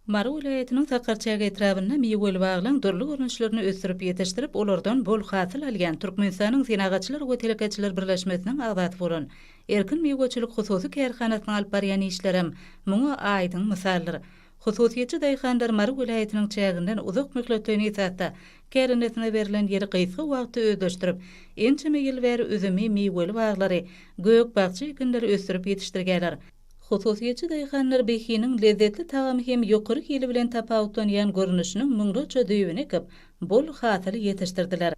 Mary welaýatynyň Sakarçäge etrabynda miweli baglaň dürli görnüşlerini ösdürip ýetişdirip, olardan bol hasyl alýan Türkmenistanyň Senagatçylar we telekeçiler birleşmesiniň agzasy bolan Erkin miweçilik hususy kärhanasynyň alyp barýan işlerem muňa aýdyň mysaldyr. Hususyýetçi daýhanlar Mary welaýatynyň çäginden uzak möhletleýin esasda kärendesine berlen ýeri gysga wagtda özleşdirip, ençeme ýyl bäri üzümi, miweli baglary, gök-bakja ekinleri ösdürip ýetişdirýärler. Hususyýetçi daýhanlar behiniň lezzetli tagamy hem ýokary hili bilen tapawutlanýan görnüşiniň müňlerçe düýbüni ekip, bol hasyl ýetişdirdiler.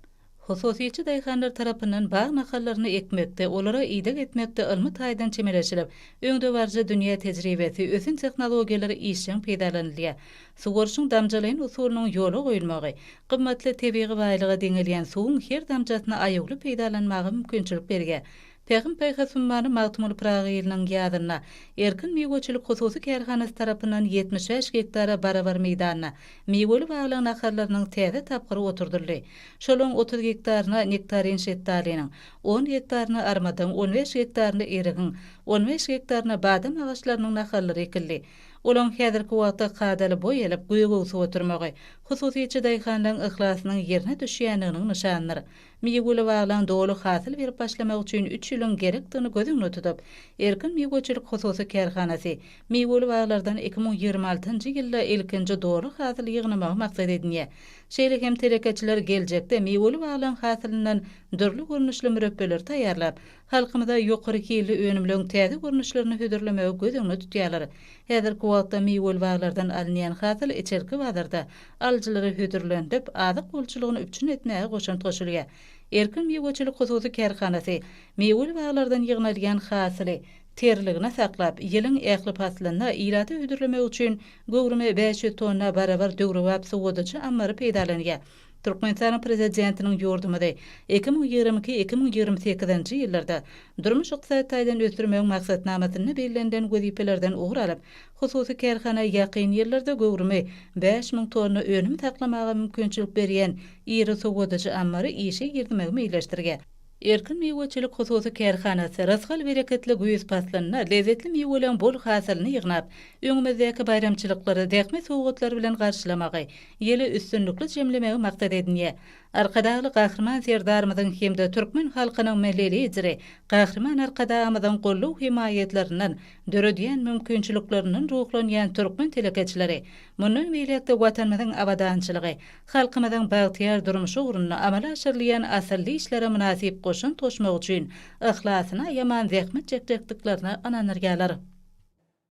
Hususyýetçi daýhanlar tarapyndan bag nahallaryny ekmekde, olara ideg etmekde ylmy taýdan çemeleşilip, öňdebaryjy dünýä tejribesi, ösen tehnologiýalar işjeň peýdalanylýar. Suwaryşyň damjalaýyn usulynyň ýola goýulmagy, gymmatly tebigy baýlyga deňelýän suwuň her damjasyny aýawly peýdalanmaga mümkinçilik berýär. Pähim-paýhas ummany Magtymguly Pyragy ýylynyň ýazynda Erkin miweçilik hususy kärhanasy tarapyndan ýetmiş bäş gektara barabar meýdanda miweli baglaň naharlarynyň täze tapgyry oturdyldy. Şolaryň otuz gektaryna nektarin şetdalynyň, on gektaryna armadyň, on bäş gektaryna erigiň, on bäş gektaryna badam agaçlarynyň naharlary ekildi. Olaryň häzirki wagtda kadaly boý alyp, göge öwsüp oturmagy hususyçy daýhanlaryň yhlasynyň ýerine düşýändiginiň nyşanydyr. Miweli baglaň doly hasyl berip başlamagy üçin üç ýylyň gerekdigini göz öňüne tutup, Erkin miweçilik hususy kärhanasy miweli baglardan iki müň ýigrimi altynjy ýylda ilkinji doly hasyly ýygnamagy maksat edinýär. Şeýle hem telekeçiler geljekde miweli baglaň hasylyndan dürli görnüşli mürepbeleri taýýarlap, halkymyza ýokary hilli önümleň täze görnüşlerini hödürlemegi göz öňüne tutýarlar. Häzirki wagtda miweli baglardan alynýan hasyl içerki bazarda alyjylary hödürlendirip, azyk bolçulygyny üpjün etmäge goşant goşulýar. Erkin miweçilik hususy kärhanasy miweli baglardan ýygnalýan hasyly terligine saklap, ýylyň ähli paslynda ilata hödürlemek üçin göwrümi bäş ýüz tonna barabar döwrebap sowadyjy ammary peýdalanýar. Türkmenistanyň Prezidentiniň ýurdumyzy iki müň ýigrimi iki-iki müň ýigrimi sekizinji ýyllarda durmuş-ykdysady taýdan ösdürmegiň Maksatnamasynda bellenilen wezipelerden ugur alyp, Hususy kärhana ýakyn ýyllarda göwrümi bäş müň tonna önüm saklamaga mümkinçilik berýän iri sowadyjy ammary işe girizmegi meýilleşdirýär. Erkin miweçilik hususy kärhanasy rysgal-bereketli güýz paslynda lezzetli miweleriň bol hasylyny ýygnap, öňümizdäki baýramçylyklary zähmet sowgatlary bilen garşylamagy, ýyly üstünlikli jemlemegi maksat edinýär. Arkadagly Gahryman Serdarymyzyň hem-de türkmen halkynyň Milli Lideri Gahryman Arkadagymyzyň goldaw-hemaýatlaryndan döredýän mümkinçiliklerinden ruhlanýan türkmen telekeçileri mundan beýläk-de Watanymyzyň abadançylygy, halkymyzyň bagtyýar durmuşy ugrunda amala aşyrylýan asylly işlere mynasyp goşant goşmak üçin yhlasyny aýaman zähmet çekjekdiklerine ynandyrýarlar.